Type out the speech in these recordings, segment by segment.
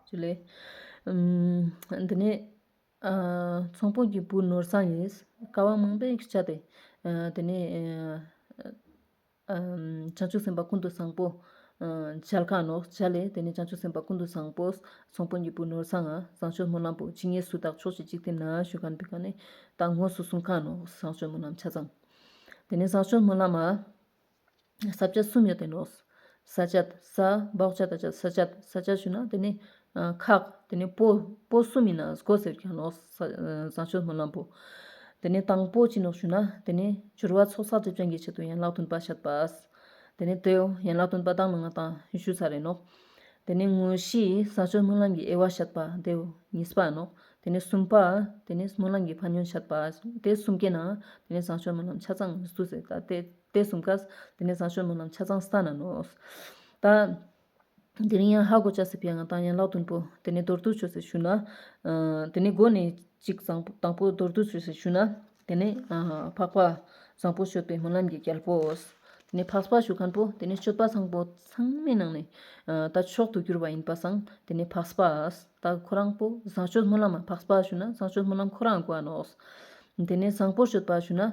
ཅུ་ལེ། འདི་ནས། ཚོང་དཔོན་གྱི་བུ་ནོར་བཟང་ཡིས་ཀ་བ་མང་པོས་བཅགས་པས། དེ་ནས། བྱང་ཆུབ་སེམས་དཔའ་ཀུན་ཏུ་བཟང་པོ། འཇལ་ཁང་ནོ། བྱ་ལེ། དེ་ནས་བྱང་ཆུབ་སེམས་དཔའ་ཀུན་ཏུ་བཟང་པོས་ཚོང་དཔོན་གྱི་བུ་ནོར་བཟང། བཟང་སྤྱོད་སྨོན་ལམ་པོ། ཇི་སྙེད་སུ་དག་ཕྱོགས་བཞི་གཅིག་སྟེ་ན་བཞུགས་ཁང་འདི་ཀ་ནས། དང་ངོས་སུ་གསུང་ཁང་ནོ། བཟང་སྤྱོད་སྨོན་ལམ་ཆ་ཚང། དེ་ནས་བཟང་སྤྱོད་སྨོན་ལམ་མ། ས་བཅད་གསུམ་ཡོད་དེ་ནོསས་བཅད། ས་འབག་བཅད་དང་བཅད་ས་བཅད། ས་བཅད་ཞུ་ན་དེ་ནི། ཁག། དེ་ནི་པོ། པོ་གསུམ་ཡིན་ན་སྒོ་ཟེར་གྱི་ནོསས། བཟང་སྤྱོད་སྨོན་ལམ་པོ། དེ་ནི་དང་པོ་ཅི་ནོསས་ཞུ་ན་དེ་ནི། སྦྱོར་བ་ཚོགས་བསགས་སྒྲིབ་སྦྱང་གི་ཆེད་དུ་ཡན་ལག་བདུན་པ་བཤད་པས། དེ་ནི་དེའོ། ཡན་ལག་བདུན་པ་བདག་ནང་ང་དང་ཞུ་ས་རེད་ནོསས། དེ་ནི་དངོས་གཞིས་བཟང་སྤྱོད་སྨོན་ལམ་གྱི་དབྱེ་བ་བཤད་པ་དེའོ། གཉིས་པ་ནོསས། དེ་ནི་གསུམ་པ། དེ་ནི་སྨོན་ལམ་གྱི་ཕ་ཉོན་བཤད་པས། དེ་གསུམ་གྱི་ནང། དེ་ནི་བཟང་སྤྱོད་སྨོན་ལམ་ཆ་ཚང་མི་བསུ་ཟེར་ད་དེ། དེ་གསུམ་ཀ། དེ་ནས་བཟང་སྤྱོད་ནོར་རྣམས་ཆ་ཚང་ས་ན་ནོ། ད། དེ་རིང་ཡང་ཧ་གོ་ལྕགས་སེར་པོའི་ཡང་ངག་དང་ཡན་ལག་བདུན་པོ། དེ་ནས་མདོར་བསྡུ་ཆོས་ཟེར་ཞུ་ན། དེ་ནས་སྒོ་ནས་གཅིག་བཟང་པོ་དང་པོ་མདོར་བསྡུ་ཆོས་ཟེར་ཞུ་ན། དེ་ནས། འཕགས་པ། བཟང་པོ་སྤྱོད་པའི་སྨོན་ལམ་གྱི་རྒྱལ་པོ། དེ་ནས་འཕགས་པ་ཞུ་མཁན་པོ་དེ་ནས་སྤྱོད་པ་ཚང་པོ་ཚང་མའི་ནང་ནས། ད་མཆོག་ཏུ་གྱུར་པ་ཡིན་པ་བཟང་དེ་ནས་འཕགས་པ། ད་ཁོ་རང་པོ་བཟང་སྤྱོད་སྨོན་ལམ་མ་འཕགས་པ་ཞུ་ན་བཟང་སྤྱོད་སྨོན་ལམ་ཁོ་རང་གོ་བ་ནོ། དེ་ནས་བཟང་པོ་སྤྱོད་པ་ཞུ་ན།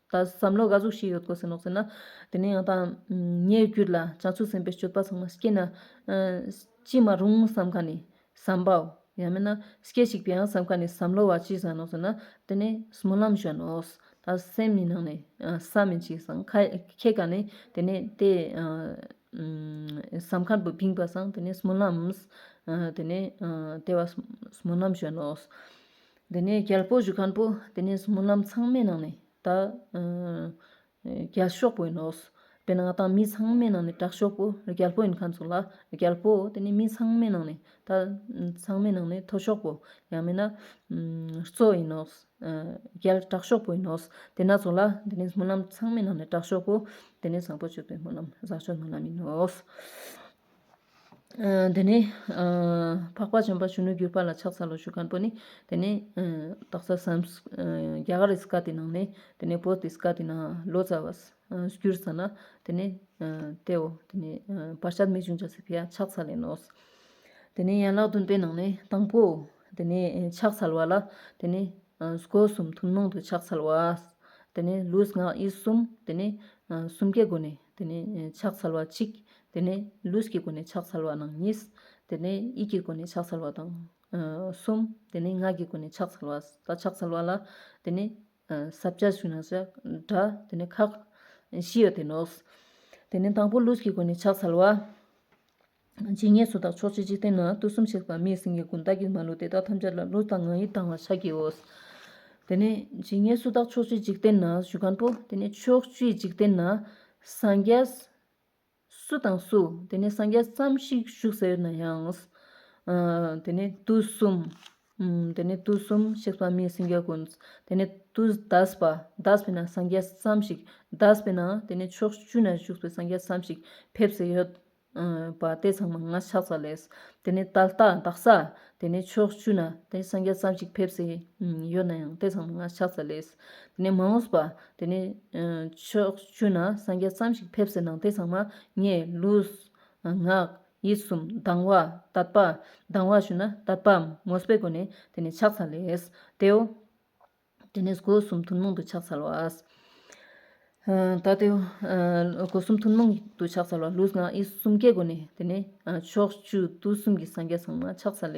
ད་བསམ་བློ་དགའ་གཟུགས་ཤིག་ཡོད་དགོས་ཟེར་ནོག་ཟེར་ན། དེ་ནས་ཡང་དང། ངའི་རྒྱུད་ལ་ལྕགས་ཚུགས་ཟིན་པའི་སྤྱོད་པ་ཚང་མ་སྐྱེ་ན། ཅི་མ་རུང་བསམ་ཁ་ནས་བསམ་པའོ། ཡང་མིན་ན། སྐད་ཅིག་པའང་བསམ་ཁ་ནས་བསམ་བློ་བ་ཅི་བཟང་ནོག་ཟེར་ན། དེ་ནས་སྨོན་ལམ་བཞག་ནོག། ད་སེམས་ནི་ནང་ནས་བསམ་མི་འཆི་སང་ཁྱེད་ག་ནས་དེ་ནས་དེ། བསམ་ཁ་བིང་བ་སང་དེ་ནས་སྨོན་ལམ། དེ་ནས་དེ་བ་སྨོན་ལམ་བཞག་ནོག། དེ་ནས་རྒྱལ་པོ་བཞུགས་ཁང་པོ་དེ་ནས་སྨོན་ལམ་ཚང་མའི་ནང་ནས་ད། རྒྱལ་ཤོག་པོ་ཡིན་ནོ། དཔེར་ན་ང་དང་མི་ཚང་མའི་ནང་ནས་དྲག་ཤོག་པོ་རྒྱལ་པོ་ཡིན་ཁ་ཚུགས་ལ་རྒྱལ་པོ་དེ་ནས་མི་ཚང་མའི་ནང་ནས་ད། ཚང་མའི་ནང་ནས་མཐོ་ཤོག་པོ་ཡང་མིན་ན། གཙོ་ཡིན་ནོ། རྒྱལ་དྲག་ཤོག་པོ་ཡིན་ནོ། དེ་ན་ཚོགས་ལ་དེ་ནས་སྨོན་ལམ་ཚང་མའི་ནང་ནས་དྲག་ཤོག་པོ་དེ་ནས་བཟང་པོ་སྤྱོད་པའི་སྨོན་ལམ་བཟང་སྤྱོད་སྨོན་ལམ་ཡིན་ནོ། དེ་ནས། འཕགས་པ་བྱམས་པ་གཞོན་ནུ་གུས་པ་ལ་ཕྱག་འཚལ་ལོ་ཞུས་ཁང་པོ་ནི། དེ་ནས། དག་ས་སམ། རྒྱ་གར་ཨིསི་ཀ་དེ་ནང་ནས། དེ་ནས་བོད་ཨིསི་ཀ་དེ་ནང་ལོ་ཙཱ་བ། གུར་ཙཱ་ན། དེ་ནས། དེའོ། དེ་ནས། བར་ཆད་མི་འབྱུང་བྱ་ཟེར་བས་ཕྱག་འཚལ་ལེ་ནོ། དེ་ནས་ཡན་ལག་བདུན་པའི་ནང་ནས་དང་པོའོ། དེ་ནས་ཕྱག་འཚལ་བ་ལ། དེ་ནས། སྒོ་གསུམ་ཐུན་མོང་དུ་ཕྱག་འཚལ་བ། དེ་ནས་ལུས་ངག་ཡིད་གསུམ་དེ་ནས་གསུམ་ཀའི་སྒོ་ནས་དེ་ནས་ཕྱག་འཚལ་བ་གཅིག། དེ་ནས་ལུས་ཀྱི་སྒོ་ནས་ཕྱག་འཚལ་བ་དང་གཉིས། དེ་ནས་ཡིད་ཀྱི་སྒོ་ནས་ཕྱག་འཚལ་བ་དང་གསུམ། དེ་ནས་ངག་གི་སྒོ་ནས་ཕྱག་འཚལ་བ། ད་ཕྱག་འཚལ་བ་ལ་དེ་ནས་ཟབ་བྱ་ཞུ་ན་ཞེས་སྒྲ་དེ་ནས་ཁག་བཞི་ཡོད་དེ་ནོ། དེ་ནས་དང་པོ་ལུས་ཀྱི་སྒོ་ནས་ཕྱག་འཚལ་བ། ཇི་སྙེད་སུ་དག་ཕྱོགས་ཆོས་འཇིག་རྟེན་ན་དུས་གསུམ་ཆད་པ་མེད་ཟིན་གྱི་ཀུན་བརྟགས་ཀྱི་མ་ལུས་དེ་དག་ཐམས་ཅད་ལ་ལུས་དང་ངག་ཡིད་དང་བ་ཆ་གིའོ། དེ་ནས་ཇི་སྙེད་སུ་དག་ཕྱོགས་ཆོས་འཇིག་རྟེན་ན་བཞུགས་ཁང་པོ། དེ་ནས་ཕྱོགས་བཅུའི་འཇིག་རྟེན་ན་སངས་རྒྱས། སུ་དང་སུ། དེ་ནས་སངས་རྒྱས་བསམ་ཤིང་བཞུགས་ཟེར་ན་ཡང། དེ་ནས་དུས་གསུམ། དེ་ནས་དུས་གསུམ་ཆད་པ་མེད་ཟིན་གྱི་ཀུན། དེ་ནས་དུས་བཟླས་པ་བཟླས་པས་ན་སངས་རྒྱས་བསམ་ཞིག་བཟླས་པས་ན་དེ་ནས་ཕྱོགས་བཅུ་ན་བཞུགས་པའི་སངས་རྒྱས་བསམ་ཞིག་ཕེབས་ཟེར། པ་སྟེ་ཚང་མ་ལྔ་ཕྱག་ཙམ་ལས། དེ་ནས་ཏཱལ་རྟགས་འདག་ས། དེ་ནས་ཕྱོགས་བཅུ་ན་དེ་སངས་རྒྱས་ཙམ་ཞིག་ཕེབས་སའི་ཡོད་ན་ཡང་སྟེ་ཚང་མ་ལྔ་ཕྱག་ཙམ་ལས། དེ་ནས་མ་འོངས་པ། དེ་ནས་ཕྱོགས་བཅུ་ན་སངས་རྒྱས་ཙམ་ཞིག་ཕེབས་སའི་ནང་དེ་ཚང་མ་ལྔས་ལུས། ངག། ཡིད་གསུམ་སྡང་བ། དད་པ། སྡང་བ་ཞུ་ན་དད་པའམ་མོས་པའི་སྒོ་ནས་དེ་ནས་ཕྱག་ཙམ་ལས། དེའོ། དེ་ནས་སྒོ་གསུམ་ཐུན་མོང་དུ་ཕྱག་འཚལ་བ། ད་དེ། སྒོ་གསུམ་ཐུན་མོང་དུ་ཕྱག་འཚལ་བ་ལུས་ངག་ཡིད་གསུམ་ཀའི་སྒོ་ནས་དེ་ནས། ཕྱོགས་བཅུ་དུས་གསུམ་གྱི་སངས་རྒྱས་ཚང་མ་ཕྱག་འཚལ་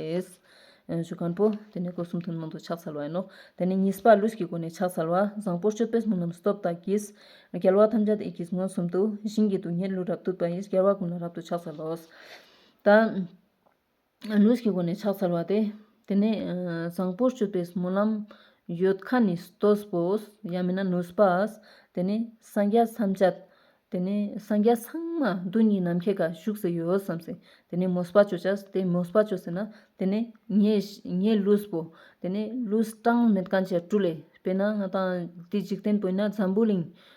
ལོ། ཞུ་ཁང་པོ། དེ་ནས་སྒོ་གསུམ་ཐུན་མོང་དུ་ཕྱག་འཚལ་བ་ཡིན་ནོ། དེ་ནས་གཉིས་པ་ལུས་ཀྱི་སྒོ་ནས་ཕྱག་འཚལ་བ། བཟང་པོར་སྤྱོད་པས་མི་རྣམས་སྟོབས་དང་གྱིས། རྒྱལ་བ་ཐམས་ཅད་དུ་ཡི་གེས་མངོན་སུམ་དུ། བཞིན་གྱི་སྡུག་བསྔལ་ལུས་རབ་བཏུལ་བ་ཡིས་རྒྱལ་བ་ཀུན་ལ་རབ་ཏུ་ཕྱག་འཚལ་ལོ། ད། ལུས་ཀྱི་སྒོ་ནས་ཕྱག་འཚལ་བ་སྟེ། དེ་ནས་བཟང་པོར་སྤྱོད་པའི་སྨོན་ལམ། ཡོད་ཁ་ནི་སྟོད་པོས་ཡང་མིན་ན་ནུས་པས། དེ་ནས་སངས་རྒྱས་མཚམས་སྤྱད། དེ་ནས་སངས་རྒྱས་ཚང་མ་རྡུལ་སྙེད་ནམ་མཁའི་ག་བཞུགས་སུ་ཡོད་བསམ་ཟིན། དེ་ནས་མོས་པ་སྤྱོད་བྱ། དེ་མོས་པ་སྤྱོད་ཟིན་ན། དེ་ནས་ངའི་ལུས་པོ། དེ་ནས་ལུས་གྲངས་མེད་གང་བྱས་བཀྲུ་ལས། དཔེར་ན་ང་དང་དེ་འཇིག་རྟེན་པོ་ཡིན་ན་འཛམ་བུའི་གླིང།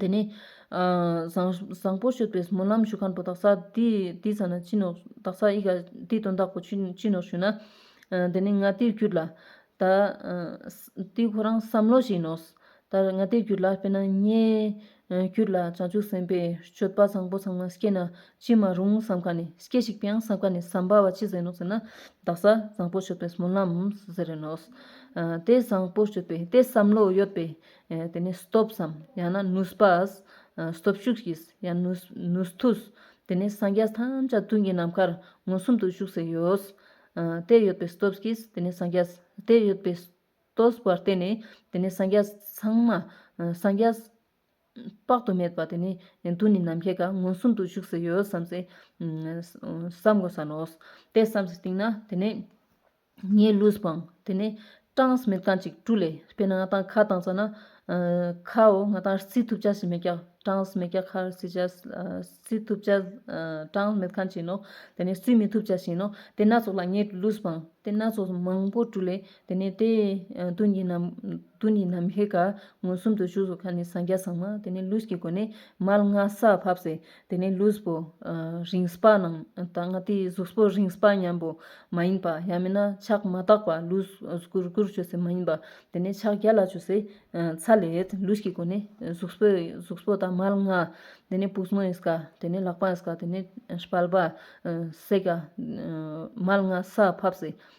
དེ་ནས། བཟང་པོ་བཤོས་པའི་སྨོན་ལམ་ཞུ་ཁ་འགྲོ་དག་ས་དེའི་ས་ན་ཅི་ནུས་དག་ས་ཡི་ག་དེའི་དོན་དག་གོ་ཅི་ནུས་ཞུས་ན། དེ་ནས་ང་དེར་གྱུར་ལ། ད། དེ་ཁོ་རང་བསམ་བློ་ཞིག་ཡིན་ནོ། ད་ང་དེར་གྱུར་ལ་དཔེར་ན་ངའི། གྱུར་ལ་བྱང་ཆུབ་སེམས་དཔའི་སྤྱོད་པ་བཟང་པོ་ཚང་མ་སྐྱེ་ན་ཅི་མ་རུང་བསམ་ག་ནས་སྐྱེ་ཞིག་པའང་བསམ་ག་ནས་བསམ་པ་བ་ཅི་ཟེར་ནོ་ཟེར་ན། དག་ས་བཟང་པོ་བཤོས་པའི་སྨོན་ལམ་ཟེར་ནོ། དེ་བཟང་པོ་བཤོས་པའི་དེ་བསམ་བློ་ཡོད་པའི། དེ་ནས་སྟོབས་སམ་ཡང་ན་ནུས་པའོ། སྟོབས་ཤུགས་ཀྱིས་ཡང་ནུས་མཐུས། དེ་ནས་སངས་རྒྱས་ཐམས་ཅད་དུས་ཀྱི་ནམ་མཁར་མངོན་སུམ་དུ་བཞུགས་སུ་ཡོད། དེ་ཡོད་པའི་སྟོབས་ཀྱིས་དེ་ནས་སངས་རྒྱས། དེ་ཡོད་པའི་སྟོབས་པར་བརྟེན་ནས་དེ་ནས་སངས་རྒྱས་ཚང་མ། སངས་རྒྱས་དཔག་ཏུ་མེད་པ་དེ་ནི་དུས་ནི་ནམ་མཁའི་ཁར་མངོན་སུམ་དུ་བཞུགས་སུ་ཡོད་བསམ་སྟེ། བསམ་དགོས་ས་ནོ། དེ་བསམ་སྟེ་བཏིང་ན་དེ་ནས། ངའི་གླུས་སྤང། དེ་ནས་སྐྲངས་མེད་རྐང་གཅིག་བཀྲུ། ལས་སྤེལ་ན་ང་དང་ཁ་དང་བཅས་ན། ཁའོ་ང་དང་རྩིས་ཐུབ་བྱ་ཞེས་མེད་ཀྱང། སྐྲངས་མེད་ཀྱང་ཁ་རྩིས་བྱ། རྩིས་ཐུབ་བྱ། སྐྲངས་མེད་ཁ་བྱིན་ནོ། དེ་ནས་རྩིས་མི་ཐུབ་བྱ་ཞིང་ནོ། དེ་སྣ་ཚོགས་ལ་ངའི་གླུས་སྤང། དེ་སྣ་ཚོགས་མང་པོ་བཀྲུ། ལས་དེ་ནས་དེ། དུས་ཉི་ནམ་དུས་ཉི་ནམ་ཧེ། མངོན་སུམ་དུ་བཞུགས་སོ་ཁ་ནས་སངས་རྒྱ་བཟང་མ། དེ་ནས་གླུས་ཀྱི་སྒོ་ནས་མལ་སྔ་ས་ཕབ། དེ་ནས་ལུས་པོ་རིང་སྤ་ནང་དང་ང་དེའི་གཟུགས་པོ་རིང་སྤ་མཉམ་པོ་མ་ཡིན་པ་ཡང་མིན་ན་ཕྱག་མ་དག་པ་ལུས་སྒུར་སྒུར་བྱོས་སེ་མ་ཡིན་པ་དེ་ནས་ཕྱག་རྒྱ་ལ་བྱོས་སེ་ཚ་ལེད་ལུས་ཀྱི་སྒོ་ནས་གཟུགས་པོ་གཟུགས་པོ་དང་མལ་ང་དེ་ནས་པུས་མོའི་སྐ་དེ་ནས་ལག་པའི་སྐ་དེ་ནས་སྤལ་པ་སེ་ག་མལ་ང་སྲ་ཕབ་སེ་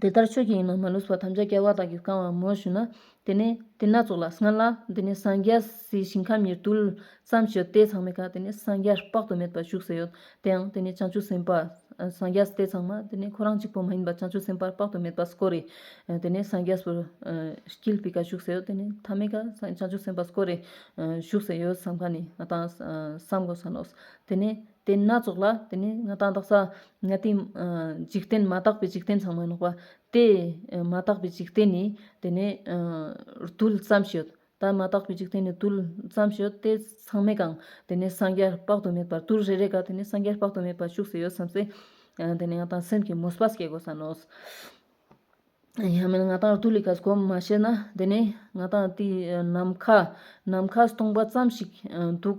དེ་ལྟར་ཆོས་ཀྱི་ཡིན་ནོ་མ་ལུས་སོགས་ཐམས་ཅད་སྐལ་བ་དག་གིས་བསྐང་བར་མོས་ཞུ་ན། དེ་ནས་དེ་སྣ་ཚོགས་ལ་སྔར་ལ། དེ་ནས་སངས་རྒྱས་སའི་ཞིང་ཁམས་ཉེར་བདུན། བརྩམས་ཆོས་ཏེ་ཚང་མའི་བཀའ་དེ་ནས་སངས་རྒྱས་དཔག་ཏུ་མེད་པ་བཞུགས་སའི་ཡུལ་དེའང་དེ་ནས་བྱང་ཆུབ་སེམས་དཔའ། སངས་རྒྱས་ཏེ་ཚང་མ་དེ་ནས་ཁོ་རང་གཅིག་པུ་མ་ཡིན་པ་བྱང་ཆུབ་སེམས་དཔའ་དཔག་ཏུ་མེད་པ་སྐོར་རེ། དེ་ནས་སངས་རྒྱས་སུ། ཀིལ་པི་ཀ་བཞུགས་སའི་ཡུལ་དེ་ནས་ཐ་མའི་བཀའ། བྱང་ཆུབ་སེམས་དཔའ་སྐོར་རེ། བཞུགས་སའི་ཡུལ་བསམ་ག་ནས་དང། བསམ་གོ་ས་ལོགས། དེ་ནས། དེ་སྣ་ཚོགས་ལ་དེ་ནི་ང་དང་དག་ས། དེའི། འཇིག་རྟེན་མ་དག་པའི་འཇིག་རྟེན་ཚང་མ་ནོག་པ། དེ། མ་དག་པའི་འཇིག་རྟེན་ནི། དེ་ནི། རྡུལ་ཙམ་ཞིག། ད་མ་དག་པའི་འཇིག་རྟེན་ནི་རྡུལ། ཙམ་ཞིག་དེ་ཚང་མས་ཀང། དེ་ནི་སངས་རྒྱས་དཔག་ཏུ་མེད་པར་རྡུལ་རེ་རེ་ག་དེ་ནི་སངས་རྒྱས་དཔག་ཏུ་མེད་པར་ཤུགས་སུ་ཡོད་བསམ་ཚེ། དེ་ནི་ང་དང་སེམས་ཀྱི་མུ་སྤ་སྐྱེ་དགོས་ས་ནོག། ཡང་མིན་ང་དང་རྡུལ་ལི་ག་ཟ་གོ་མ་ཤེས་ན་དེ་ནི། ང་དང་དེའི་ནམ་མཁའ། ནམ་མཁའ་སྟོང་པ་ཙམ་ཞིག་འདུག།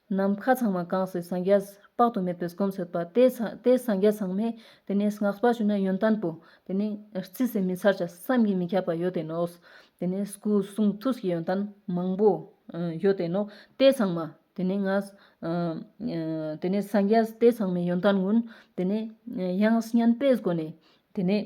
ནམ་མཁའ་ཚང་མ་གང་སའི་སངས་རྒྱས། དཔག་ཏུ་མེད་པའི་སྒོམ་སོད་པ། དེ་ལྟའི་སངས་རྒྱས་ཚང་མས། དེ་ནས་བསྔགས་པར་ཞུ་ན་ཡོན་ཏན་པོ། དེ་ནས་རྩིས་སུ་མི་ཚར་ཆ་བསམ་གྱིས་མི་ཁྱབ་པ་ཡོད་དེ་ནོ། དེ་ནས་སྐུ་གསུང་ཐུགས་ཀྱི་ཡོན་ཏན་མང་པོ། ཡོད་དེ་ནོ། དེ་ཚང་མ། དེ་ནས་སངས་རྒྱས་དེ་ཚང་མའི་ཡོན་ཏན་ཀུན། དེ་ནས་དབྱངས་སྙན་པའི་སྒོ་ནས། དེ་ནས།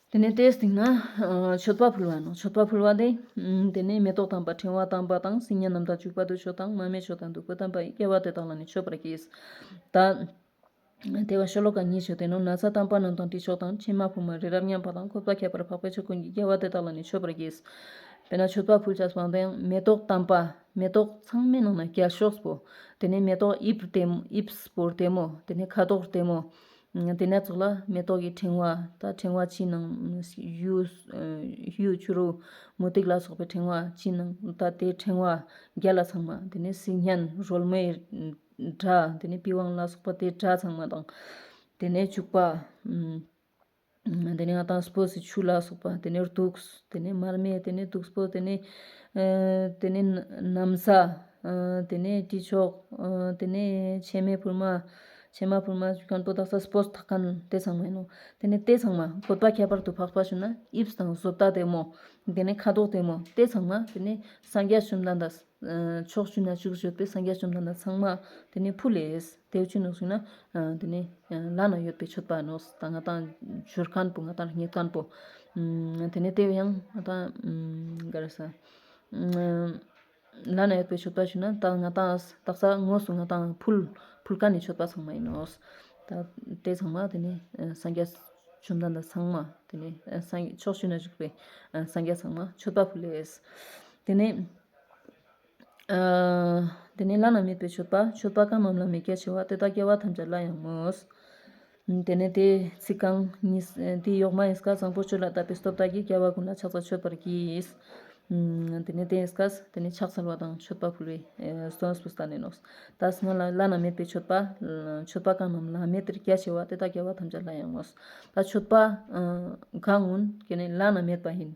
དེ་ནས་དེའི་སྟེང་ན་མཆོད་པ་ཕུལ་བ་ནོ། མཆོད་པ་ཕུལ་བ་དེ། དེ་ནས་མེ་ཏོག་དང་བ་ཕྲེང་བ་དང་བ་དང་སིལ་སྙན་རྣམས་དང་བྱུག་པ་དུ་ཆོ་དང་མ་མའི་ཆོ་དང་དུ་ཀུ་དང་བ་ཡིས་བསྐལ་བ་དེ་དག་ལ་ནི་མཆོད་པར་གྱིས། ད་དེ་བ་ཤོ་ལོ་ཀ་གཉིས་བྱོས་དེ་ནོ་ན་ཚ་དང་བ་རྣམས་དང་དྲི་ཆོ་དང་ཕྱེ་མ་ཕུབ་མ་རི་རབ་མཉམ་པ་དང་ཁོབ་ད་ཁྱད་པར་འཕགས་པའི་ཆོས་ཀུན་གྱིས་བསྐལ་བ་དེ་དག་ལ་ནི་མཆོད་པར་གྱིས། དེ་ནས་མཆོད་པ་ཕུལ་བྱ་སོང་དེའང་མེ་ཏོག་དང་བ། མེ་ཏོག་ཚང་མའི་ནང་ན་རྒྱ་ཤོག་པོ། དེ་ནས་མེ་ཏོག་དབྱིབས་དེ་དབྱིབས་པོར་བསྟིམ་མོ། དེ་ནས་ཁ་དོག་བསྟིམ་མོ། དེ་ནས་ཚོགས་ལ་མེ་ཏོག་གི་ཕྲེང་བ་དང་ཕྲེང་བ་ཕྱི་ནང་གཡུའི་ཆུ་རུ་མུ་ཏིག་ལ་སོགས་པའི་ཕྲེང་བ་ཕྱི་ནང་དང་དེའི་ཕྲེང་བ་བརྒྱད་ལ་ཚང་མ་དེ་ནས་སིལ་སྙན་རོལ་མོའི་སྒྲ་དེ་ནས་པི་ཝང་ལ་སོགས་པ་དེའི་སྒྲ་ཚང་མ་དང། དེ་ནས་བྱུག་པ། དེ་ནས་ང་དྭགས་སུ་སྤོས་སུ་ཆུ་ལ་སོགས་པ་དེ་ནས་དུག་དེ་ནས་མར་མེ་དེ་ནས་དུག་སྤོས་དེ་ནས་དེ་ནས་གནམ་ས་དེ་ནས་དཀྲིས་ཆོག་དེ་ནས་ཕྱེ་མའི་ཕུར་མ་ཕྱེ་མ་ཕུར་མ་ཆུ་ཁང་དོ་བདག་ས་སྤོས་ཐག་ཁང་ལྟེ་ཚང་མ་ཡིན་ནོ། དེ་ནས་ལྟེ་ཚང་མ་བཀོད་པ་ཁྱད་པར་དུ་འཕགས་པ་བྱུང་ན་དབྱིབས་དང་བཟོ་ལྟ་དེ་མོ། དེ་ནས་ཁ་དོག་དེ་མོ་ལྟེ་ཚང་མ་དེ་ནས་སངས་རྒྱས་བཅོམ་ལྡན་འདས། ཕྱོགས་བཅུ་ན་ཅིག་ཤོས་པའི་སངས་རྒྱས་བཅོམ་ལྡན་འདས་ཚང་མ། དེ་ནས་བྷུ་ལེས་དེ་བཅུ་ནང་ཞིག་ན། དེ་ནས་ལ་ན་ཡོད་པའི་མཆོད་པ་ནོ། ད་ང་དང་བྱུར་ཁང་པོ་ང་དང་རིག་གནས་ཁང་པོ། དེ་ནས་དེ་བས་ཡང་ང་དང་ག་རེ་ས། ལ་ན་ཡོད་པའི་མཆོད་པ་ཞིག་ན་ད་ང་དང་སྟག་ཚ་དངོས་སུ་ང་དང་ཕུལ། ཕུལ་ཁ་ནི་མཆོད་པ་ཚང་མ་ཡིན་ནོ། ད་དེ་ཚང་མ་དེ་ནས་སངས་རྒྱས་བཅོམ་ལྡན་འདས་ཚང་མ། དེ་ནས་སངས་ཕྱོགས་བཅུ་ན་བཞུགས་པའི་སངས་རྒྱས་ཚང་མ་མཆོད་པ་ཕུལ་ལེ། དེ་ནས། དེ་ནས་བླ་ན་མེད་པའི་མཆོད་པ་མཆོད་པ་གང་རྣམས་ལ་མི་སྐྱེ་བྱ་བ་དེ་དག་སྐྱེ་བ་ཐམས་ཅད་སླར་ཡང་མོས། དེ་ནས་དེའི་ཚིག་རྐང་གཉིས། དེའི་གཡོགས་མ་ཨིསྐ་བཟང་པོ་ཆུ་ལ་བཏབ་པའི་སྟོབས་དག་གིས་སྐྱེ་བ་ཀུན་ལ་ཕྱག་ཚ་མཆོད་པར་གྱིས། དེ་ནས་དེའི་ཨིསྐ། དེ་ནས་ཕྱག་འཚལ་བ་དང་མཆོད་པ་ཕུལ་བས། སྟོན་སྤུ་སྟ་ནས་ནོག། ད་སྔ་ལ་བླ་ན་མེད་པའི་མཆོད་པ། མཆོད་པ་གང་རྣམས་ལྷ་མི་དེར་སྐྱེ་བྱ་བ་དེ་དག་སྐྱེ་བ་ཐམས་ཅད་སླར་ཡང་མོས། ད་མཆོད་པ། གང་ངོ། ཀྱེ་ནི་བླ་ན་མེད་པ་ཡིན།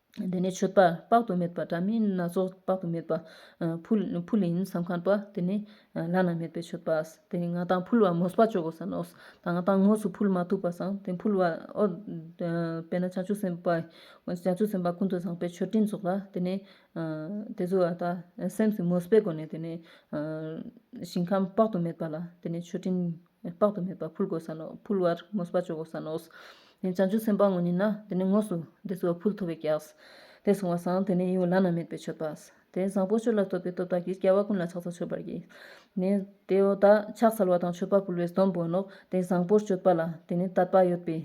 དེ་ནས་མཆོད་པ་དཔག་ཏུ་མེད་པ་དྲ་མིག་སྣ་ཚོགས་དཔག་ཏུ་མེད་པ། ཕུ་ལིན་ས་ཁང་པ། དེ་ནས་བླ་ན་མེད་པའི་མཆོད་པ། དེ་ནས་ང་དང་ཕུལ་བ་མོས་པ་ཅོག་གོ་ས་ནོ། ང་དང་ངོས་སུ་ཕུལ་མ་ཐུབ་པ་སང་དེ་ཕུལ་བ་ཨོ། དཔེར་ན་བྱང་ཆུབ་སེམས་དཔའ་བྱང་ཆུབ་སེམས་དཔའ་ཀུན་ཏུ་བཟང་པོའི་མཆོད་སྤྲིན་རྫོགས་ལ་དེ་ནས། དེ་ཚོ་བ་དག་སེམས་སུ་མོས་པས་བསྒོ་ནས་དེ་ནས། ཞིང་ཁམས་དཔག་ཏུ་མེད་པ་ལ་དེ་ནས་མཆོད་སྤྲིན། དཔག་ཏུ་མེད་པ་ཕུལ་དགོས་ས་ནོ། ཕུལ་བར་དངོས་སུ་བ་ཅོ་གོ་ས་ནོ། བྱང་ཆུབ་སེམས་དཔའ་དངོས་ཉིད་ན་དེ་ནི་དངོས་སུ་དེ་སོ་ཕུལ་ཐོབ་བས་ཀྱྀ། དེ་སོང་བ་སང་དེ་ནི་ཡིད་འོང་བླ་ན་མེད་པའི་མཆོད་པ། དེ་བཟང་པོ་ཆོས་ལ་བསྟོད་པའི་སྟོབས་དག་གིས་སྐལ་བ་ཀུན་ལ་ཕྱག་འཚལ་མཆོད་པར་བགྱི། ནི། དེའོ་ད་ཕྱག་འཚལ་བ་དང་མཆོད་པ་ཕུལ་བའི་སྡོམ་བོ་ནོ། དེ་བཟང་པོར་སྤྱོད་པ་ལ་དེ་ནི་དད་པ་ཡོད་པའི་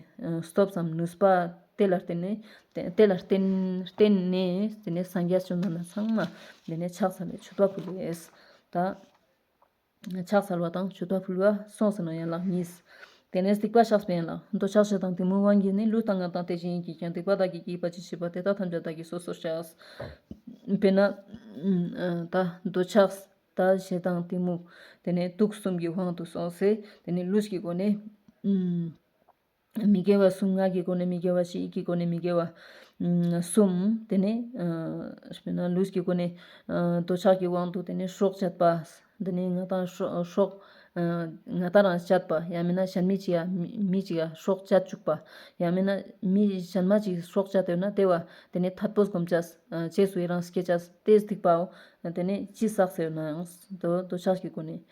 སྟོབས་སམ་ནུས་པ། དེ་ལ་བརྟེན་ནས། དེ་ལ་བརྟེན། བརྟེན་ནས་དེ་ནི་སངས་རྒྱས་བཅོམ་ལྡན་འདས་ཚང་མ། དེ་ནི་ཕྱག་འཚལ་བའི་མཆོད་པ་ཕུལ་བས། ད། ཕྱག་འཚལ་བ་དང་མཆོད་པ་ཕུལ་བ་སོགས་སུ་ན་ཡན་ལག་གཉིས། དེ་ནས་སྡིག་པ་བཤགས་པའི་ཡན་ལག་འདོད་ཆགས་བྱེད་དང་དེ་མོའི་དབང་གིས་ནི་ལུས་དང་ངག་དང་དེ་བཞིན་ཡིད་ཀྱིས་ཀྱང་སྡིག་པ་བདག་གིས་བགྱིས་པ་ཅི་མཆིས་པ་དེ་དག་ཐམས་ཅད་བདག་གིས་སོ་སོར་བཤགས། དཔེར་ན། ད་འདོད་ཆགས་ད་བྱེད་དང་དེ་མོ། དེ་ནས་དུག་གསུམ་གྱི་དབང་དུ་སོང་ཚེ་དེ་ནི་ལུས་ཀྱི་སྒོ་ནས། མི་དགེ་བ་གསུམ་ངག་གི་སྒོ་ནས་མི་དགེ་བ་བཞི་ཡིད་ཀྱི་སྒོ་ནས་མི་དགེ་བ་གསུམ། དེ་ནས་ལུས་ཀྱི་སྒོ་ནས་འདོད་ཆགས་ཀྱི་དབང་དུ་དེ་ནས་སྲོག་བཅད་པ། དེ་ནས་ང་དང་སྲོག། ང་དང་རང་བཅད་པ་ཡང་མིན་ན་གཞན་མི་གཅིག་མི་གཅིག་ལ་སྲོག་བཅད་བཅུག་པ། ཡང་མིན་ན་མི་གཞན་མ་གཅིག་སྲོག་བཅད་འདོད་ན་ལྟེ་བ། དེ་ནས་མཐར་པོད་བསྒོམ་བྱ། བཅས་སུ་ཡི་རང་ཞི་རྒྱས་བྱ། སྟེ་སྡིག་པའོ། དེ་ནས་ཅི་བསགས་ཟེར་ན་ཡང་འདོད་ཆགས་ཀྱི་སྒོ་ནས།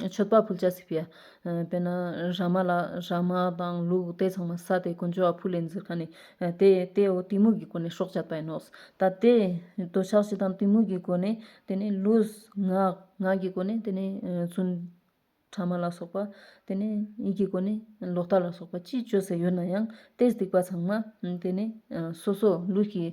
མཆོད་པ་ཕུལ་བྱ་སྲིད་པའི་དཔལ། ན་ར་མ་ལ་ར་མ་དང་ལུག་རྟའི་ཚང་མ་ས་དེའི་གོ་འཇོ་བ་ཕུ་ལེ་འཛིར་ཁ་ནས། དེ་དེ་འོ་གཏི་མུག་གི་སྒོ་ནས་ཤོག་བྱ་བས་ནོ། ད་དེ་འདོད་ཆགས་བཞི་དང་གཏི་མུག་གི་སྒོ་ནས་དེ་ནས་ལུས། ངག་ངག་གི་སྒོ་ནས་དེ་ནས་བཙུན། ཕྲ་མ་ལ་སོགས་པ། དེ་ནས་ཡིད་ཀྱི་སྒོ་ནས་ལོག་ལྟ་ལ་སོགས་པ་ཅི་སྤྱོད་ཟེར་ཡོད་ན་ཡང། ཏེས་སྡིག་པ་ཚང་མ། དེ་ནས་སོ་སོ་ལུས་ཀྱི།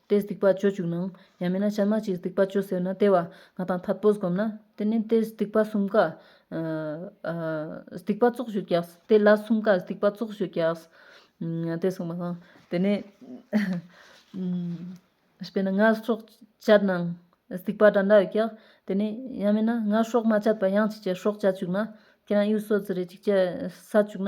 ཏེས་སྡིག་པ་སྤྱོད་བཅུག་ན། ཡང་མིན་ན་བྱ་མ་ཅིག་སྡིག་པ་སྤྱོད་ཟེར་ན་ལྟེ་བ་ང་དང་འཐབ་པོ་བསྒོམ་ན། དེ་ནས་ཏེས་སྡིག་པ་གསུམ་ཀ། སྡིག་པ་བཙོག་བྱུག་རྒྱགས། དེ་སླ་གསུམ་ཀ་སྡིག་པ་བཙོག་བྱུག་རྒྱགས། ཏེས་གསུངས་པ་དང། དེ་ནས། དཔེར་ན་ངར་ཤོག་བཅད་ན། སྡིག་པ་འདྲ་འདྲ་ཡོད་རྒྱགས། དེ་ནས་ཡང་མིན་ན་ངར་ཤོག་མ་བཅད་པར་གཡང་གཅིག་ཅེར་ཤོག་བཅད་བཅུག་ན། ཁྱེད་རང་གཡུལ་སོ་རྫི་རེ་གཅིག་ཅེར་ས་བཅུག་ན།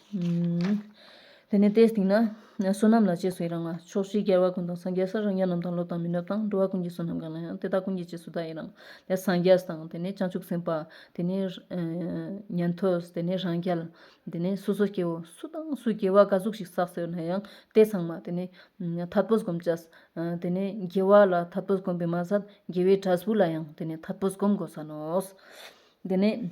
དེ་ནས་དེའི་སྟེང་ན་བསོད་ནམས་ལ་རྗེས་སུ་ཡི་རང་བ། ཕྱོགས་བཞིའི་རྒྱལ་བ་ཀུན་དང་སངས་རྒྱས་སུ་རང་རྒྱལ་རྣམས་དང་ལོ་དང་མི་ནུབ་དང་འགྲོ་བ་ཀུན་གྱི་བསོད་ནམས་གང་ལ་ཡང་དེ་དག་ཀུན་གྱི་རྗེས་སུ་བདག་ཡི་རང། དེ་ནས་སངས་རྒྱས་དང་དེ་ནས་བྱང་ཆུབ་སེམས་དཔའ། དེ་ནས་ཉན་ཐོས་དེ་ནས་རང་རྒྱལ། དེ་ནས་སོ་སོ་སྐྱེ་བོ་སུ་དང་སུ་སྐྱེ་བ་དགའ་གཟུགས་ཤིག་བསགས་ཟེར་ན་ཡང་དེ་ཚང་མ་དེ་ནས་ཐར་པོ་བསྒོམ་བྱ། དེ་ནས་དགེ་བ་ལ་ཐར་པོ་བསྒོམ་པས་མ་ཟད་དགེ་བའི་གྲྭ་གཟུགས་ལ་ཡང་དེ་ནས་ཐར་པོ་བསྒོམ་དགོས་ས་ནོ། དེ་ནས།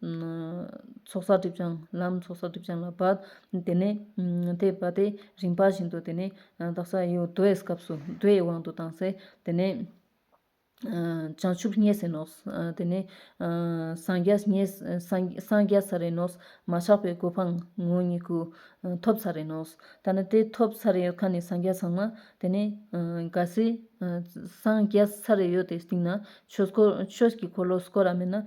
ཚོགས་བསགས་སྒྲིབ་སྦྱངས་ལམ་ཚོགས་བསགས་སྒྲིབ་སྦྱངས་ལ་བབ། དེ་ནས་དེ་བབ་སྟེ་རིམ་པ་བཞིན་དུ་དེ་ནས་བདག་ས་ཡོད་རྡོའི་སྐབས་སུ་རྡོའི་དབང་དུ་བཏང་སའི་དེ་ནས། བྱང་ཆུབ་བརྙེས་ཟིན་ནོ། དེ་ནས་སངས་རྒྱས་བརྙེས། སངས་རྒྱས་ས་རེ་ནོ། མ་ཆགས་པའི་གོ་འཕང་ངོ་གཉིས་ཀུན། ཐོབ་ས་རེ་ནོ། ད་ནི་དེ་ཐོབ་ས་རེ་ཡོད་ཁ་ནས་སངས་རྒྱས་ཚང་མ་དེ་ནས། གལ་སྲིད་སངས་རྒྱས་ས་རེ་ཡོད་དེ་སྟེང་ན། ཆོས་ཀྱི་འཁོར་ལོ་སྐོར་ར་མེད་ན།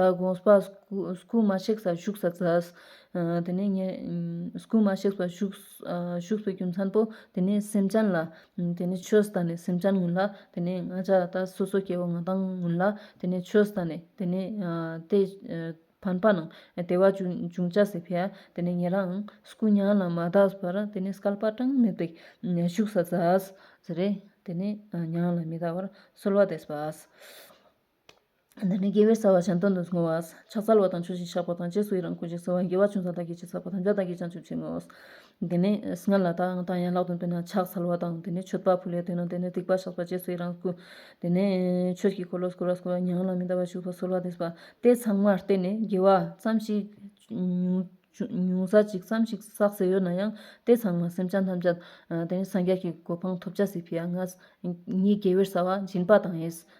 ད་དགོངས་པ། སྐུ་མ་གཤེགས་སར་བཞུགས་སར་གཟབས། དེ་ནས་ཉེར། སྐུ་མ་གཤེགས་པར་བཞུགས། བཞུགས་པའི་རྒྱུ་མཚན་པོ། དེ་ནས་སེམས་ཅན་ལ། དེ་ནས་ཆོས་བཟླས་ནས་སེམས་ཅན་ངུ་ལ། དེ་ནས་ང་ཅག་ད་སོ་སོ་སྐྱེ་བོ་ང་དང་ངུ་ལ། དེ་ནས་ཆོས་བཟླས་ནས། དེ་ནས། དེ། བན་པ་རྣམས། བདེ་བ་འབྱུང་བྱ་སྲིད་ཕལ། དེ་ནས་ཉེ་རང། སྐུ་མྱ་ངན་ལས་མ་གདགས་པར། དེ་ནས་སྐལ་པ་གྲངས་མེད་པའི། བཞུགས་སར་གཟབས། ཟེར། དེ་ནས་མྱ་ངན་ལས་མི་གདགས་པར། གསོལ་བ་འདེབས་པ། འདི་ནི་དགེ་བའི་རྩ་བ་གཞན་དོན་དུ་བཟུང་བ། ཕྱག་འཚལ་བ་དང་ཆོས་བཞིན་བཤགས་པ་དང་རྗེས་སུ་ཡི་རང་ཀུན་གྱིས་གསོལ་བ་དགེ་བ་ཆུང་ཙག་བདག་གིས་ཅི་བསགས་པ་དམ་བཅའ་བདག་གིས་ཀྱང་བཅོལ་ཕྱིར་བསྔོའོ། འདི་ནི་སྔར་ལ་ལྟ་དང་ཡན་ལག་དོན་དུ་ན་ཕྱག་འཚལ་བ་དང། འདི་ནི་མཆོད་པ་ཕུལ་བའི་དོན་དང་འདི་ནི་སྡིག་པ་བཤགས་པ་རྗེས་སུ་ཡི་རང་ཀུན། འདི་ནི་ཆོས་ཀྱི་འཁོར་ལོ་བསྐོར་བ་བསྐོར་བ་ཉང་ལ་མི་འདའ་བར་བཞུགས་པ་གསོལ་བ་འདེབས་པ་སྟེ་ཚང་མར་བརྟེན་ནས་དགེ་བ་ཙམ་ཞིག། ཉུང་ཟ་ཅིག་ཙམ་ཞིག་བསགས་ཟེར་ཡོད་ན་ཡང་སྟེ་ཚང་མ་སེམས་ཅན་ཐམས་ཅད། འདི་ནི་སངས་རྒྱས་ཀྱི་གོ་འཕང་ཐོབ་བྱ་སྲིད་པས་ང། ཉིད་དགེ་བའི་རྩ་བ་སྦྱིན་པ་དང་ཡིད།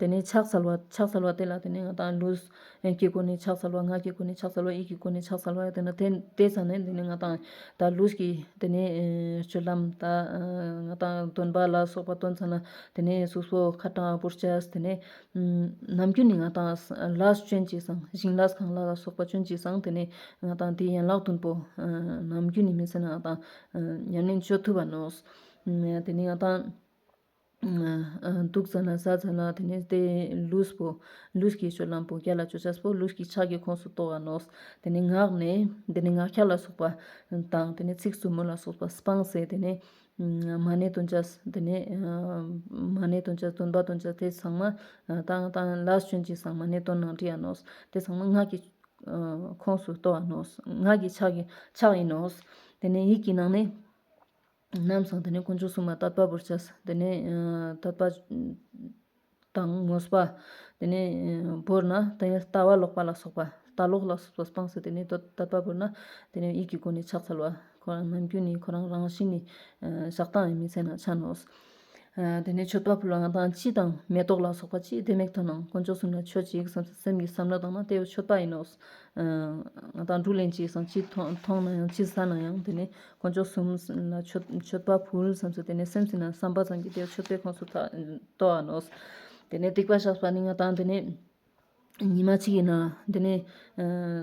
དེ་ནས་ཕྱག་འཚལ་བ། ཕྱག་འཚལ་བ་དེ་ལ་དེ་ནས་ང་དང་ལུས། ཡན་གྱི་སྒོ་ནས་ཕྱག་འཚལ་བ་ངག་གི་སྒོ་ནས་ཕྱག་འཚལ་བ་ཡིད་ཀྱི་སྒོ་ནས་ཕྱག་འཚལ་བ་དེ་ནས་དེ་དེ་ཚར་ནས་དེ་ནས་ང་དང། ད་ལུས་ཀྱི་དེ་ནས་སྤྱོད་ལམ། ད་ང་དང་སྟོན་པ་ལ་སོགས་པ་སྟོན་ཚར་ན་དེ་ནས་གཟུགས་སོགས་ཁ་གྲངས་བུར་བྱ། དེ་ནས། ནམ་རྒྱུན་ནི་ང་དང། ལ་སྤྱོན་གྱིས་སམ་བཞིན་ལ་གང་ལ་ལ་སོགས་པ་སྤྱོན་གྱིས་སམ་དེ་ནས་ང་དང་དེའི་ཡན་ལག་བདུན་པོ། ནམ་རྒྱུན་ནི་མི་ཚེ་ན་ང་དང། ཉམས་ལེན་སྤྱོད་ཐུབ་པ་ནོ། དེ་ནས་ང་དང། དུག་ཚ་ན་ཟ་ཚ་ན་དེ་ནས་དེ་ལུས་པོ། ལུས་ཀྱི་ཆུ་རླངས་བུ་ག་ལ་ཆུ་ཆགས་པོ་ལུས་ཀྱི་ཕྱག་གི་ཁོངས་སུ་གཏོགས་བ་ནོ། དེ་ནས་ངག་ནས་དེ་ནས་ངག་འཁྱག་ལ་སོགས་པ་དང་དེ་ནས་ཚིགས་རྩུབ་མོ་ལ་སོགས་པ་སྤངས་ཟེར་དེ་ནས། མ་ཎི་དང་འཇའ་དེ་ནས། མ་ཎི་དང་འཇའ་འདོན་པ་དང་འཇའ་དེ་ཚང་མ། དང་དང་ལ་སྤྱོན་ཅིང་སང་མ་ཎི་དང་ནང་བྲིས་ཡ་ནོ། དེ་ཚང་མ་ངག་གི། ཁོངས་སུ་གཏོགས་བ་ནོ། ངག་གི་ཕྱག་གི་ཕྱག་ཡིན་ནོ། དེ་ནས་ཡིད་ཀྱི་ནང་ནས། རྣམས་སམ་དེ་ནས་དཀོན་མཆོག་སྲུང་མ་དད་པ་པོར་བྱས། དེ་ནས་དད་པ་དང་ངོ་སྤ། དེ་ནས་བོར་ན་དེ་ནས་ལྟ་བ་ལོག་པ་ལ་སོགས་པ་ལྟ་ལོག་ལ་སོགས་པ་སྤངས་སོ་དེ་ནས་དད་པ་བོར་ན་དེ་ནས་ཡིད་ཀྱི་སྒོ་ནས་ཕྱག་འཚལ་བ། ཁོ་རང་ནམ་རྒྱུན་ནི་ཁོ་རང་རང་བཞིན་ནི། བཤགས་སྟངས་ཡིན་མི་ཚད་ན་ཕྱག་ནོ། དེ་ནས་མཆོད་པ་ཕུལ་བ་ལ་དང་སྤྱི་དང་མེ་ཏོག་ལ་སོགས་པ་ཅི་བདེ་མེད་དོ་སྣང་དཀོན་མཆོག་གསུམ་ལ་མཆོད་ཅིག་བསམ་ཚེ་སེམས་ཀྱི་བསམ་བློ་དང་ན་ལྟེ་བའི་མཆོད་པ་ཡིན་ནོ། ང་དང་དྲུག་ལེན་ཅིག་བསམ་ཅི་མཐོང་ན་ཡང་ཅི་ཟ་ན་ཡང་དེ་ནས་དཀོན་མཆོག་གསུམ་ལ་མཆོད་པ་ཕུལ་བསམ་ཚེ་དེ་ནས་སེམས་ཅི་ན་བསམ་པ་ཙམ་གྱིས་དེའི་མཆོད་པའི་ཁོངས་སུ་གཏོགས་ནོ། དེ་ནས་སྡིག་པ་བཤགས་པ་ནི་ང་དང་དེ་ནས། ཉི་མ་གཅིག་ཡིན། དེ་ནས་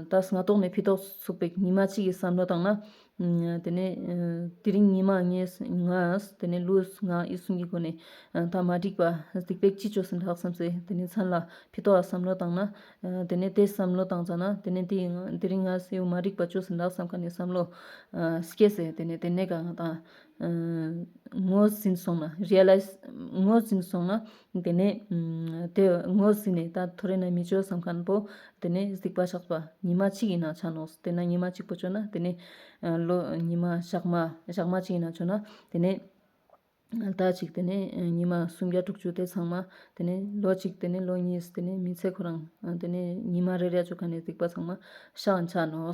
ད་སྔ་རྟོག་མེད་འཕེལ་ཏོག་ཚོགས་པའི་ཉི་མ་གཅིག་གི་བསམ་བློ་དང་ན། དེ་ནས་དེ་རིང་ཉི་མ་ལྔས་ངས་དེ་ནས་ལུས་ངག་ཡིད་གསུམ་གྱི་སྒོ་ནས་ད་མ་འགྲིག་པ་སྡིག་པས་ཅི་བྱོས་ཟིན་ལགས་བསམ་ཚེ་དེ་ནས་མཚན་ལ་འཕེལ་ཏོག་ལ་བསམ་བློ་དང་ན། དེ་ནས་དེ་བསམ་བློ་དང་ཙང་ན་དེ་ནས་དེ་རིང་ངས་སེའུ་མ་འགྲིག་པ་བྱོས་ཟིན་ལགས་བསམ་ག་ནས་བསམ་བློ་སྐྱེས་ཚེ་དེ་ནས་དེ་ནས་གང་ད། ངོ་ཟིན་སོང་ན Realize ངོ་ཟིན་སོང་ན། དེ་ནས་དེ་ངོ་ཟིན་ནས་ད་ཐོ་རེ་ན་མི་སྤྱོད་བསམ་ཁ་ན་བོ། དེ་ནས་གཟིགས་པ་ཆགས་པ་ཉི་མ་གཅིག་ཡིན་ན་ཆ་ནོག་དེ་ན་ཉི་མ་གཅིག་པོ་སྤྱོད་ན་དེ་ནས། ལོ་ཉི་མ་ཞག་མ་ཞག་མ་གཅིག་ཡིན་ན་སྤྱོད་ན་དེ་ནས། ཟླ་གཅིག་དེ་ནས་ཉི་མ་སུམ་བརྒྱ་དྲུག་ཅུ་དེ་ཚང་མ་དེ་ནས་ལོ་གཅིག་དེ་ནས་ལོ་གཉིས་དེ་ནས་མི་ཚེ་ཁོ་རང་དེ་ནས་ཉི་མ་རེ་རེ་སྤྱོད་མཁན་ནས་གཟིགས་པ་ཚང་མ་ཤ་ཆ་ནོག།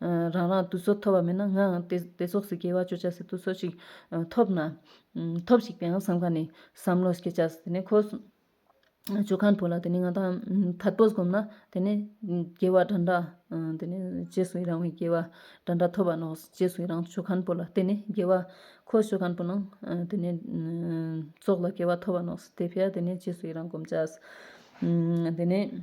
རང་རང་དུ་སོ་ཐོབ་པ་མེད་ན་ངའང་དེ་སོགས་སུ་སྐྱེ་བ་བཅོ་བྱ་སི་ཏུ་སོ་ཅིག་ཐོབ་ན། ཐོབ་ཅིག་པའང་བསམ་ག་ནས་བསམ་བློ་སྐྱེ་བྱ་སི་དེ་ནས་ཁོ། ཇོ་ཁང་དུ་ལ་དེ་ནས་ང་ད་བར་པོ་བསྒོམ་ན་དེ་ནས་སྐྱེ་བ་འདྲ་འདྲ། དེ་ནས་རྗེས་སུ་ཡི་རང་བའི་སྐྱེ་བ་འདྲ་འདྲ་ཐོབ་པ་ནོ་རྗེས་སུ་ཡི་རང་ཇོ་ཁང་པོ་ལ་དེ་ནས་སྐྱེ་བ། ཁོ་ཇོ་ཁང་པོ་ན་དེ་ནས་སྲོག་ལ་སྐྱེ་བ་ཐོབ་པ་ནོ་དེ་ཕྱིར་དེ་ནས་རྗེས་སུ་ཡི་རང་བསྒོམ་བྱ། དེ་ནས།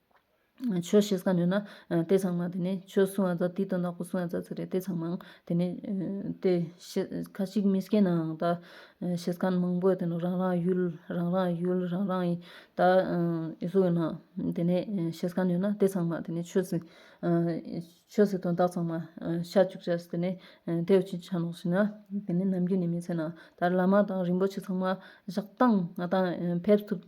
ཆོས་ཤེས་ས་ནོས་ན། ལྟས་ཚང་མ་དེ་ནི་ཆོས་གསུང་བ་ཙག་དེའི་དོན་དག་པོ་གསུང་བ་ཙག་ཙིག་རེད་ལྟས་ཚང་མའང་དེ་ནི། ལྟས་ཤེས་ཁ་ཅིག་མི་སྐྱེ་ནའང་ད། ཤེས་ཁ་མང་པོས་དེ་ནི་རང་རང་ཡུལ་རང་རང་ཡུལ་རང་རང་ཡི། ད་གཟུགས་ཡོད་ནའང་དེ་ནི་ཤེས་ཁ་ནོས་ན་ལྟས་ཚང་མ་དེ་ནི་ཆོས་ཟིན། ཆོས་ཟིན་དོན་དག་ཚང་མ་ཤ་བཅུག་བྱས་སུ་དེ་ནི། དེ་བས་ཅི་བྱ་ནོ་ཞེ་ན། དེ་ནི་ནམ་རྒྱུན་ནས་མི་ཚད་ན། ད་བླ་མ་དང་རིན་པོ་ཆེ་ཚང་མ་བཞག་སྟངས་ང་དང་ཕེབས་ཐུབ།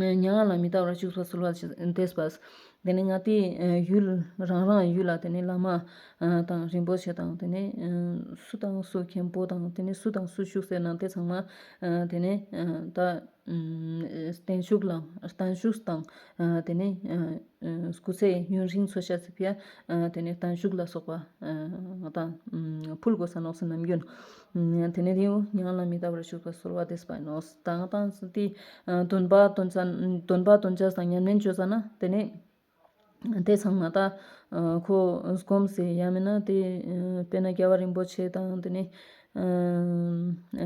མྱ་ངན་ལ་མི་ལྟ་བར་བཞུགས་སོ་གསོལ་བ་འདེབས་པ། དེ་ནས་སྔགས་འདི་ཡུལ་རང་རང་ཡུལ་ལ་དེ་ནས་བླ་མ་དང་རིན་པོ་ཆེ་དང་དེ་ནས་སུ་དང་སུ་མཁན་པོ་དང་དེ་ནས་སུ་དང་སུ་བཞུགས་སའི་ནང་དེ་ཚང་མ་དེ་ནས་ད་བརྟན་བཞུགས་ལ་བརྟན་བཞུགས་དང་དེ་ནས་སྐུ་ཚེ་ཡུན་རིང་འཚོ་ཞབས་ཕྱི་ཡ་དེ་ནས་བརྟན་བཞུགས་ལ་སོགས་པ་དང་ཕུལ་དགོས་ས་ནོགས་སུ་ནམ་རྒྱུན། དེ་ནས་དེའུ་ཉག་ལ་མི་ལྟ་བར་ཞུགས་པ་གསོལ་བ་འདེབས་པ་ཡིན་ནོ། དང་དང་སྟེ། འདོན་པ་དོན་བྱ་འདོན་པ་དོན་བྱ་དང་ཉམས་ལེན་བརྗོད་བྱ་ན་དེ་ནི། དེ་ཚང་མ་དག་གོ། སྒོམ་ཟེར་ཡ་མིན་ན་དེ། དཔེར་ན་རྒྱལ་བ་རིན་པོ་ཆེ་དང་དེ་ནི།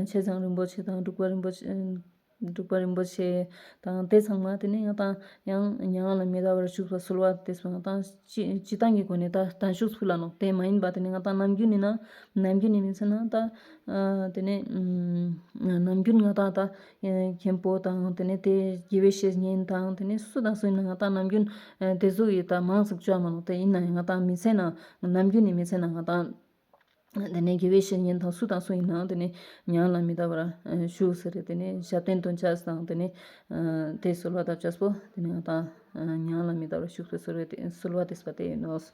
ཆེ་བྱང་རིན་པོ་ཆེ་དང་འབྲུག་པ་རིན་པོ་ཆེ། འབྲུག་པ་རིན་པོ་ཆེ་དང་དེ་ཚང་མ་དེ་ནས་ཡང་ཏང་ཡང་མྱ་ངན་ལ་མི་ད་བར་བཞུགས་པ་གསོལ་བ་འདེབས་སོང་ཏང་སྤྱི་ཏང་གི་སྒོ་ནས་ད་དང་བཞུགས་ཚུལ་ལ་ནོག་དེ་མ་ཡིན་པ་དེ་ནས་ང་ཏང་ནམ་རྒྱུན་ནས་ན་ནམ་རྒྱུན་ནས་མིན་ཚེ་ན་ད་དེ་ནས་ནམ་རྒྱུན་ང་ཏང་ད་མཁན་པོ་དང་དེ་ནས་དེ་དགེ་བའི་བཤེས་གཉེན་དང་དེ་ནས་སུ་དང་སུ་ཡིན་ན་ང་ཏང་ནམ་རྒྱུན་དེ་གཟུགས་ཡིད་ད་མང་གཟུགས་ཅག་མ་ནོག་དེ་ཡིན་ན་ཡང་ང་ཏང་མི་ཚེ་ན་ནམ་རྒྱུན་ནས་མི་ཚེ་ན་ང་ཏང། དེ་ནས་དགེ་བའི་བཤེས་གཉེན་དང་སུ་དང་སུ་ཡིན་ནའང་དེ་ནི་ཉང་ལ་མི་ལྟ་བར་བཞུགས་ཟེར་ཏེ་དེ་ནི་ཞབས་བརྟན་དུ་འཇགས་སུ་དང་དེ་ནི། དེས་གསོལ་བ་བཏབ་བྱ་སོ། དེ་ནས་ང་དང། ཉང་ལ་མི་ལྟ་བར་བཞུགས་ཟེར་གསོལ་བས་གསོལ་བ་འདེབས་པ་དེ་ཡིན་ནོ། དེས་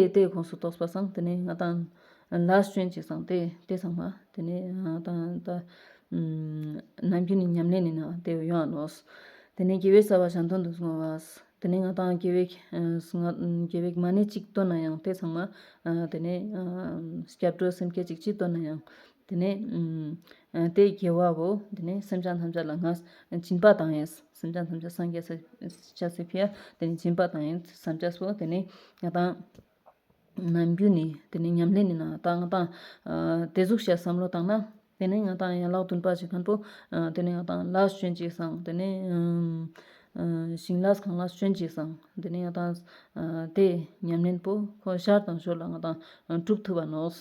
རྟའི་ཁོངས་སུ་གཏོགས་པར་བསམ་དེ་ནི་ང་དང། ལ་ཞོན་ཅིག་བསམ་སྟེ་དེ་བསམ་མ། དེ་ནི་ང་དང་ད། ནམ་རྒྱུན་ནི་ཉམས་ལེན་ནི་ན་དེ་ཡང་ནོ། དེ་ནས་དགེ་བའི་རྩ་བ་ཞང་སྟོན་དུ་སོང་བ། དེ་ནས་ང་དང་རྒྱལ་བའི། རྒྱལ་བའི་མ་ནི་གཅིག་བཏོན་ན་ཡང་དེ་ཚང་མ། དེ་ནས། སྐྱབས་འགྲོ་སེམས་བསྐྱེད་ཅིག་ཅི་བཏོན་ན་ཡང། དེ་ནས། དེས་རྒྱལ་བའོ། དེ་ནས་སེམས་ཅན་ཐམས་ཅད་ལ་ང། སྦྱིན་པ་དང་ཡང། སེམས་ཅན་ཐམས་ཅད་སངས་རྒྱས། སྐྱབས་སེམས་ཕུལ། དེ་ནས་སྦྱིན་པ་དང་ཡང། སངས་རྒྱས་སོ། དེ་ནས་ང་དང། ནམ་རྒྱུན་ནས་དེ་ནི་ཉམས་ལེན་ནི་ན་ད་ང་ཏང། དེ་གཟུགས་བྱད་བསམ་བློ་བཏང་ན། དེ་ནི་ང་ཏང་ཡན་ལག་བདུན་པ་ཞིག་ཁོན་པོ། དེ་ནི་ང་ཏང་ལག་ཞོན་ཅིག་སང་དེ་ནི། ཞིང་ལག་གང་ལག་ཞོན་ཅིག་སང་དེ་ནི་ང་ཏང། དེ་ཉམས་ལེན་པོ་ཁོ་ཤར་དང་ཤོར་ལ་ང་ཏང་གྲུབ་ཐུབ་པ་ནོགས།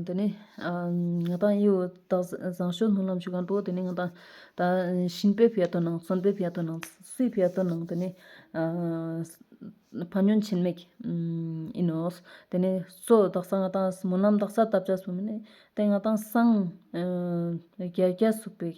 དེ་ནས་ང་དང་ཡིའུ་སྟག་བཟང་ཞོ་སྣུམ་ལམ་ཞུ་གང་དྲུག་དེ་ནས་ང་དང་ཤིན་པའི་བེར་དོ་ནང་གསོན་པའི་བེར་དོ་ནང་སུའི་བེར་དོ་ནང་དེ་ནས་ཕ་ཉོན་ཆེན་མེག་ཨི་ནོས་དེ་ནས་སོ་སྟག་བཟང་ང་དང་མོ་ནམ་སྟག་ས་བཏབ་བྱ་སོང་དེ་ནས་ང་དང་སང་རྒྱལ་རྒྱལ་སུག་པའི།